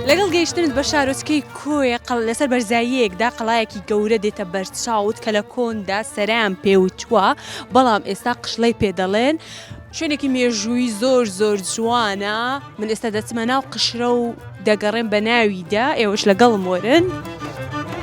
لەگەڵ گەیشتنت بە شارۆچکەی کۆیە قە لەسەر بەرزاییەکدا قەڵایەکی گەورە دێتە بەرچاوت کە لە کۆندا سەران پێوچووە بەڵام ئێستا قشڵەی پێ دەڵێن، شوێنێکی مێژووی زۆر زۆر جوانە من ئێستا دەچمە ناو قشرە و دەگەڕێم بە ناویدا ئێوەش لەگەڵم وەرن.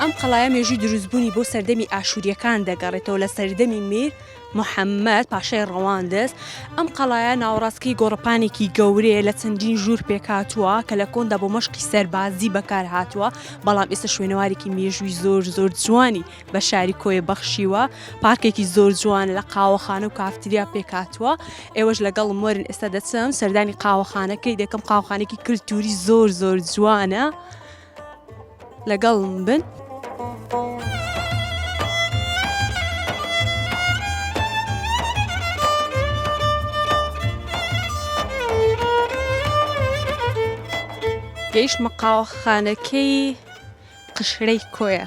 ئەم قەڵایە مێژووی دروستبوونی بۆ سەردەمی ئاشوورییەکان دەگەڕێتەوە لە سەردەمی میر محەممەد پاشای ڕەواندز ئەم قەڵایە ناوەڕاستکەی گۆڕەپانێکی گەورەیە لە چەندین ژوور پێکاتووە کە لە کۆندا بۆ مەشقی سەربازی بەکار هاتووە بەڵام ئێستا شوێنەوارێکی مێژووی زۆر زۆر جوانی بە شاری کۆیە بەخشیوە پارکێکی زۆر جوان لە قاوەخانە و کافتریا پێکاتووە ئێوەش لەگەڵ مۆرن ئێستا دەچم سەردانی قاوەخانەکەی دەکەم قاوخانێکی کللتوری زۆر زۆر جوانە. لەگەڵم بن. گەیشتمە قاوەخانەکەی قشرەی کۆیە.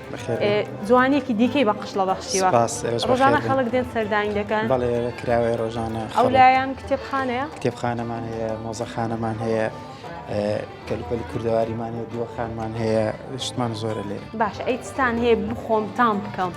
جوانیەکی دیکەی بە قشڵە بەخشیوە ڕۆژانە خەڵک دێن سەردانی دەکەن بەڵێ کراوەیە ڕۆژانە ئەو لایەن کتێبخانەیە کتێبخانەمان هەیە مۆزەخانەمان هەیە کەلوپەلی کوردەواریمان هەیە دووەخانمان هەیە شتمان زۆرە لێ باش ئەیتستان هەیە بخۆم تام بکەم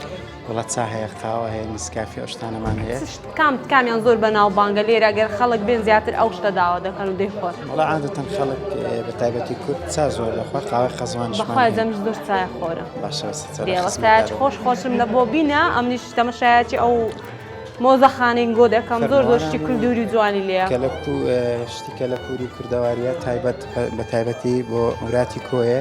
وڵات چا هەیە قاوە هەیە نسکافی ئەشتانەمان هەیە کام کامیان زۆر بەناوبانگە لێرە گەر خەڵک بێن زیاتر ئەو شتە داوا دەکەن و دەیخۆن وڵا عادەتەن خەڵک بە تایبەتی کورد چا زۆر لەخوا قاوە خەزوان بەخوازم زۆر چای خۆرە باشەوەسایەت خۆش خۆشم لە بۆ بینە ئەمنیش تەمەشایەتی ئەو مۆزەخانین گۆ دەکەم زۆر زۆشتی کولدوری جوانی لێ کەلەپو شتی کەلەپوری کوردەواریە تایبەت بە تایبەتی بۆ وراتی کۆیە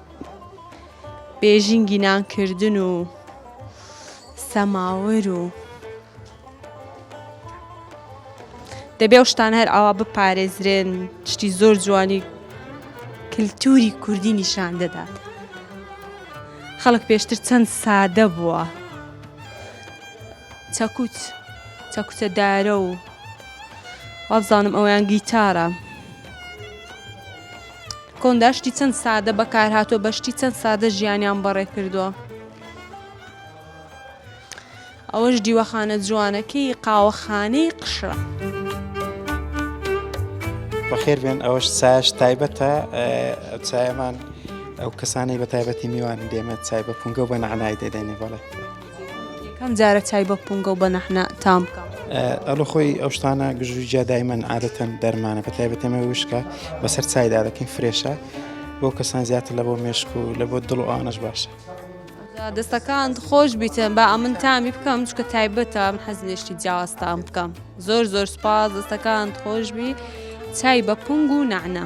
بێژینگی نان کردن و سەماور و دەبێ ئەو شتان هەر ئاوا بپارێزرێن شتی زۆر جوانی کللتوری کوردی نیشان دەدات خەڵک پێشتر چەند سادە بووە چەکوچ چەکوچە دارە و وابزانم ئەویان گیتارە کۆندا شتی چەند سادە بەکارهاتوە بە شتی چەند سادە ژیانیان بەڕێ کردووە ئەوەش دیوەخانە جوانەکەی قاوەخانەی قشرە. بەخێر بێن ئەوەش ساش تایبەتە ئەو چایەمان ئەو کەسانی بە تایبەتی میوان دێمە چای بە پونگە و بە نەعنای دەدەێنێ بەڵێ. یەکەم جارە چای بە پونگە و بە نەحنە تام بکەم. ئەڵە خۆی ئەو شتانە گژوی جیا دایمەن عادەتەن دەرمانە بە تایبەت ئێمە وشکە بەسەر چایدا دەکەین فرێشە بۆ کەسان زیاتر لە بۆ مێشک و لە بۆ دڵ و ئانەش باشە. دەستەکان خۆش بیتن با ئەمن تامی بکەم چکە تایبەتە من حەز لێشتی جیاوازتان بکەم زۆر زۆر سپاس دەستەکان خۆشببی چای بە پنگ و نەعنە.